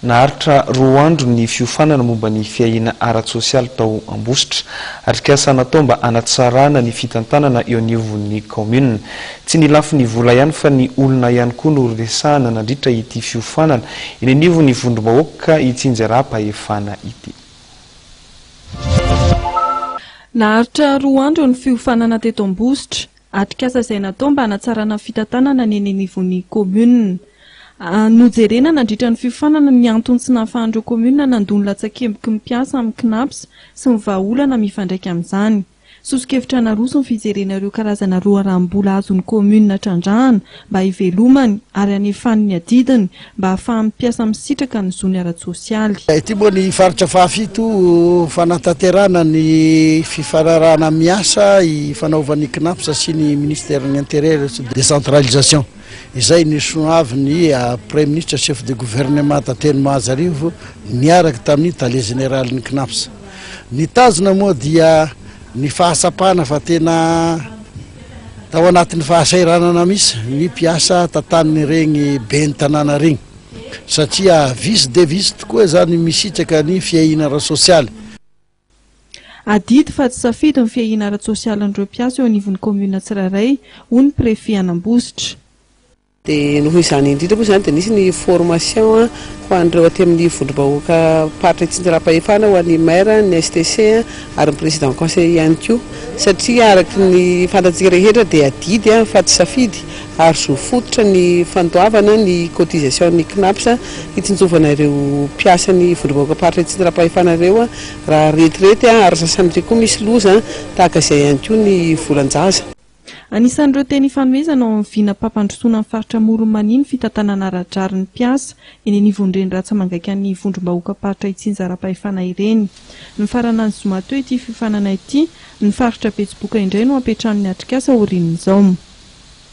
Naharitra roa andro ny fiofanana momba ny fiahiana ara-tsosialy tao Ambositra. Atrikasa natao mba hanatsarana ny fitantanana eo anivon'ny kaominina. Tsy ny lafiny vola ihany fa ny olona ihany koa no resahana nandritra ity fiofanana eny anivon'ny vondrom-bahoaka itsinjaram-pahefana ity. Naharitra roa andro ny fiofanana teto Ambositra. Atrikasa izay natao mba hanatsarana ny fitantanana ny eny anivon'ny kaominina. Nojerena nandritra ny fiofanana ny antony tsy nahafahan'ireo kaominina nandoa ny latsakemboky ny mpiasa amin'ny Cnaps sy ny vahaolana mifandraika amin'izany. Soso-kevitra naroso ny fijerena ireo karazana loharanom-bola azon'ny kaominina trandrahana mba hivelomany ary hanefany ny adidiny mba hahafahan'ny mpiasa misitraka ny zony ara-tsosialy. Ity moa ny faritra fahafito fanatanterahana ny fifanarahana miasa ifanaovan'ny Cnaps sy ny Ministerin'ny Intérieur sy Décentralisation izay nisono avy ny Praiminisitra Chef de Gouvernemanta teny Mahajarivo niaraka tamin'ny Tale Jeneralin'ny Cnaps. Ny tanjona moa dia Ny fahatsapana fa tena tao anatin'ny fahasahiranana mihitsy ny mpiasa tantanin'ireny ben'ny tanàna ireny, satria vitsy dia vitsy tokoa izany misitraka ny fiahiana ara-tsosialy. Adidy fa tsy safidy ny fiahiana ara-tsosialin'ireo mpiasa eo anivon'ny kaominina tsirairay, hoy ny prefet an'Ambositra. Dia noho izany indrindra moa izany dia nisy ny formation ho an'ireo aty amin'ny vondrom-bahoaka mparitra itsinjaram-pahefana ho an'ny maire, ny STC ary ny président conseil ihany koa satria araka ny fantatsika rehetra dia adidy fa tsy safidy ary zo fototra ny fandoavana ny cotisation-n'ny Cnaps hitsinjovana ireo mpiasan'ny vondrom-bahoaka mparitra itsinjaram-pahefana ireo raha retirety ary sasan'ireo koa misy loza tahaka izay ihany koa ny volan-jaza. Anisan'ireo teny ifanomezana ao amin'ny vinam-pampandrosoana ny faritra Amoron'i Mania ny fitantanana ara-drariny ny mpiasa eny anivon'ireny rantsa mangaikan'ny vondrom-bahoakam-paritra itsinjaram-pahefana ireny. Nifarana ny zoma teo ity fiofanana ity, ny faritra Betsiboka indray no hampiantrano ny atrikasa aorian'izao.